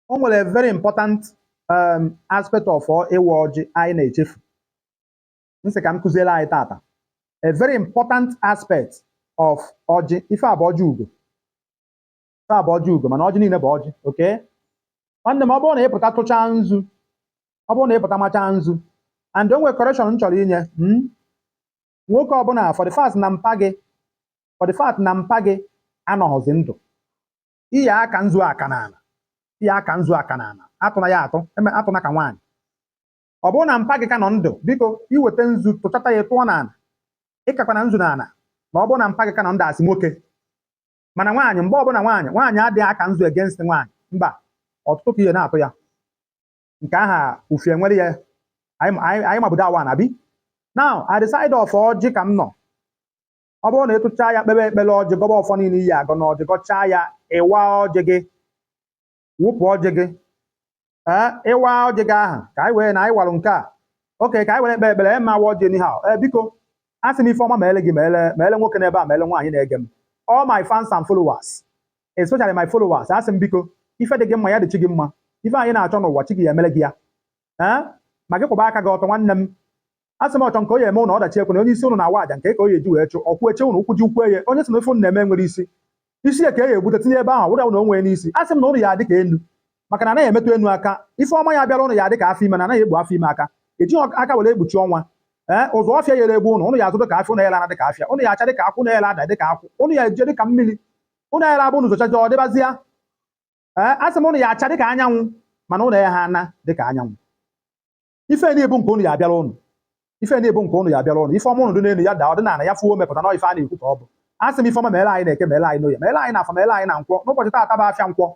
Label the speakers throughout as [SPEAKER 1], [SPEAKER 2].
[SPEAKER 1] o nwere a very important um, aspect of ịwa ọjị anyị na-echefu m sị ka m kụziere anyị taata a very important aspect of ọjị ife a bụ ọjị ugo ife a bụ ọjị ugo mana ọjị niile bụ ọjị okay nwanne m ọ bụrụ na ị pụta tụchaa nzu ọ bụrụ na ị pụta machaa nzu and o nwere correction m chọrọ inye mm, nwoke ọbụla for the fact na mpa gị for the fact na mpa gị anọghịzi ndụ ị ya-aka nzu aka n'ala ị ya-aka nzu aka n'ala atụna ya atụ eme atụna ka nwaanyị ọ bụrụ na mpa gị ka nọ ndụ biko i weta nzu tụchata ya tụọ n'ala ịkakwana nzu n'ala ma ọ bụrụ na mpa gị ka nọ ndụ as nwoke mana nwaanyị mgbe ọbụla nwaanyị nwaanyị adịghị aka nzu against nwaanyị mba ọtụtụ ka ị ya na-atụ ya nke aha ufie nwere ya anyị anyị- anyị mabudo awa na bi now at the side of ọjị ka m nọ ọ bụrụ na ị tụchaa ya kpebe ekpere ọjị gọba ọfọ niile ị ya-agọ na ọjị gọchaa ya ị waa ọjị gị wụpụ ọjị gị ee ị waa ọjị gị ahụ ka anyị wee na anyị warụ nke a okay ka anyị were ekpe ekpere ee ma waa ọjị n'ihe a ee biko a sị m ife ọma meele gị meele meele nwoke n'ebe a meele nwaanyị na-ege m all my fans and followers especially my followers a sị m biko ife dị gị mma ya dị chi gị mma ife anyị na-achọ n'ụwa chi gị ya emere gị ya ee ma gị kwụba aka gị ọtọ nwanne m asị m ọchọ nke onye eme ụnụ ọdachi ekwena onye isi ụnụ na-awa aja nke ka onye eji wee chụ ọkwụ eche ụnụ ụkwụ ji ukwu eye onye sị na ife ụnụ na-eme enwerọ isi isi ya ka e egbute tinye ebe ahụ wụda ụnụ onwe n'isi asị m na ụnụ ya adị ka enu maka na anaghị emetụ enu aka ife ọma ya bịara ụnụ ya adị ka afọ ime na anaghị ekpu afọ ime aka eji aka were ekpuchi ọnwa ee ụzọ ọfịa yere egbu ụnụ ụnụ ya azụ dị ka afịa ụnụ yere ana dị ka afịa ụnụ ya acha dị ka akwụ ụnụ yere ada dị ka akwụ ụnụ ya eje dị ka mmiri ụnụ yere abụ ụnụ zochaja ọ dịbazịa ee asị m ụnụ ya acha dị ka anyanwụ mana ụnụ ya ha ana dị ka anyanwụ ife na-abụ nke ụnụ ya abịara ụnụ ife na-abụ nke ụnụ ya abịara ụnụ ife ọma ụnụ dị n'elu ya daa ọ dị n'ala ya fuo mepụta na ife a na-ekwu ka ọ bụ a sị m ife ọma meela anyị n'eke meela anyị n'oye meela anyị na afọ meela anyị na nkwọ n'ụbọchị taata bụ afịa nkwọ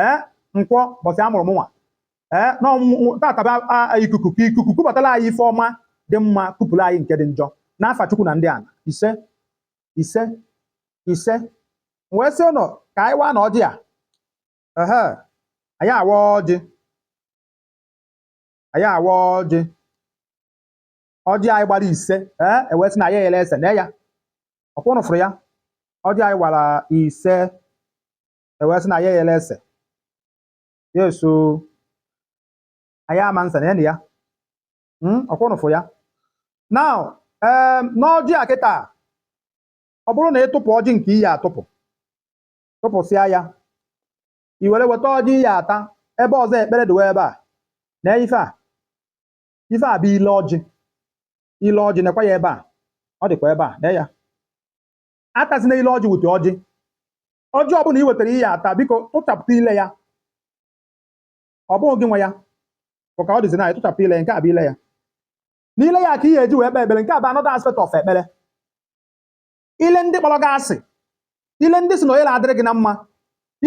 [SPEAKER 1] ee eh, nkwọ bọsị a mụrụ mụnwa ee eh, na taata bụ ikuku ka ikuku kubatara anyị ife ọma dị mma kupụrụ anyị nke dị njọ n'afa Chukwu na ndị ana ise ise ise wee sị ụnụ ka anyị waanụ ọjị a anyị awa ọjị anyị awa ọjị ọjị anyị gbara ise ee e wee sị na ya ele ese na ya ọkwa ụnụ fụrụ ya ọjị anyị gbara ise e wee sị na ya ele ese ya eso anyị ama nsa na ya na ya hmm, ọkwa ụnụ fụrụ ya now ee n'ọjị a kịta ọ bụrụ na ị tụpụ ọjị nke ị ya-atụpụ tụpụsịa ya i were weta ọjị i ya ata ebe ọzọ ekpere dịwa ebe a na ife a ife a bụ ile ọjị ile ọjị nekwa ya ebe a ọ dịkwa ebe a na ya atazina ile ọjị wute ọjị ọjị ọbụla i wetara i ya ata biko tụchapụta ile ya ọ bụghị gị nwe ya bụ ka ọ dịzi na ya tụchapụta ile ya nke a bụ ile ya n'ile ya ka i ya eji wee kpee ekpere nke a bụ another aspect of ekpere ile ndị kpọrọ gị asị ile ndị sị na onye na-adịrị gị na mma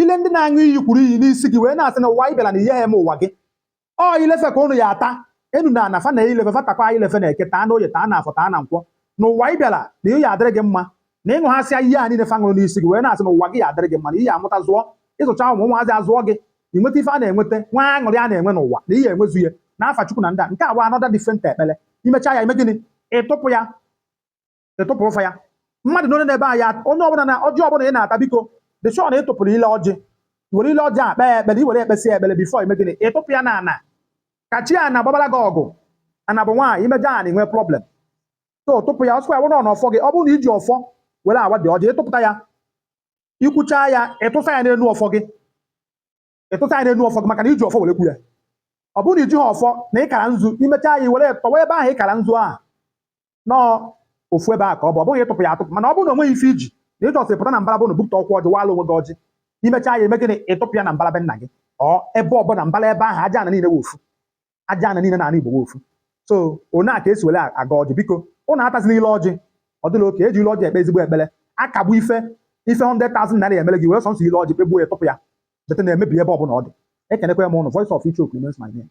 [SPEAKER 1] ile ndị na-aṅụ iyi kwuru iyi n'isi gị wee na-asị na ụwa ị bịara na i yaha eme ụwa gị ọ ile fa ka ụnụ ya ata enu na ana fa na ile fa fa takwa ile fa na eke taa na oye taa na afọ taa na nkwọ na ụwa ị bịara na ihe ya adịrị gị mma na ịṅụhasịa iyi a niile fa ṅụrụ n'isi gị wee na-asị na ụwa gị ya adịrị gị mma na i ya amụta zụọ ịzụcha ụmụ ụmụazị azụọ gị ị nweta ife a na-enweta n'ụwa aṅụrị a na-enwe n'ụwa na i ya enwezu ya na afa chukwu na ndị a nke a bụ another different ekpere imecha ya ime gịnị ịtụpụ ya ịtụpụrụ fa ya mmadụ n'onye n'ebe anyị onye ọbụla na ọjị ọbụla ị na-ata biko dị sure na ị tụpụrụ ile ọjị i were ile ọjị a kpee ya ekpere i were kpesị ya ekpere before ime gịnị ịtụpụ ya na ana ka chi ana gbabara gị ọgụ ana bụ nwaanyị imejọ ana enwee problem so tụpụ ya ọ sịkwa ya wụrụ na ọfọ gị ọ bụrụ na iji ọfọ were awa dị ọjị ịtụpụta ya ikwucha ya ịtụsa ya n'elu ọfọ gị ịtụta ya n'elu ọfọ gị maka na iji ọfọ were kwu ya ọ bụrụ na ijiha ọfọ na ịkara nzu imechaa ya were tọwa ebe ahụ ịkara nzu ahụ na ọ ofu ebe ahụ ka ọ bụ ọ bụghị ịtụpụ ya atụpụ mana ọ bụrụ na onweghị ife iji na ị just pụta na mbara ọbụna bupụta ọkwa ọjị wala onwe gị ọjị imechaa ya ime gịnị ịtụpụ ya na mbara be nna gị ọ ebe ọ bụla mbara ebe ahụ aja ana niile wụ ofu aja ana niile n'ala Igbo wụ ofu so one a ka esi were agọ ọjị biko ụnụ atazina ile ọjị ọ dịla okay eji ile ọjị ekpe ezigbo ekpere akagbu ife ife 100,000 naira emere gị were sọnsọ ile ọjị kpegbuo ya tụpụ ya jete na-emebi ebe ọbụla ọ dị ekenekwa m ụnụ voice of ichioku remains my name